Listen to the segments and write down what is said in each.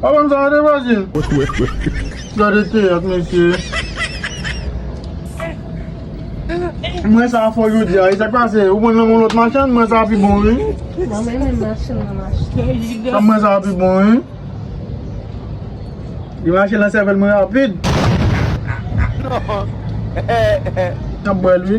Pa banm sa rete pase. Gade teyat mesye. Mwen sa fò jodi a. Esak pase? Ou pran nan men lòt machann? Mwen sa pi bon wi. Nan men menm machann nan machann. Mwen sa pi bon wi. Li mache nan sèvèl mwen rapid. Nap bwèl wi.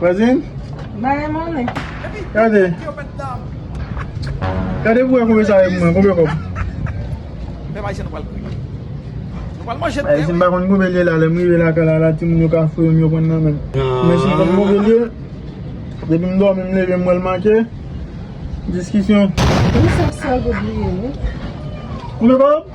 Vwazin? Baye mounen. Gade. Gade pou wè konbe sa yon mwen. Konbe kòb. Mè bay se nou pal kouye. Nou pal manje. Baye se mba konn konbe lye la. Lèm rive la kala la ti moun yo ka fouye m yo pran nan men. Mwen si mwen konbe lye. Depi m dòmi m leve m wèl manke. Diskisyon. Mwen se sèl pou bliye. Konbe kòb?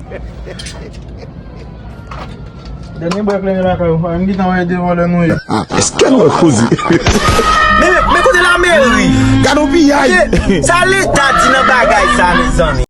Dènye bwa kleren lakay ou. Ann gitan wè de vòlè nou ye. Eske'n wè koze. Men kote lameri. Gadon piyay. Sa leta di nan bagay sa mezanmi.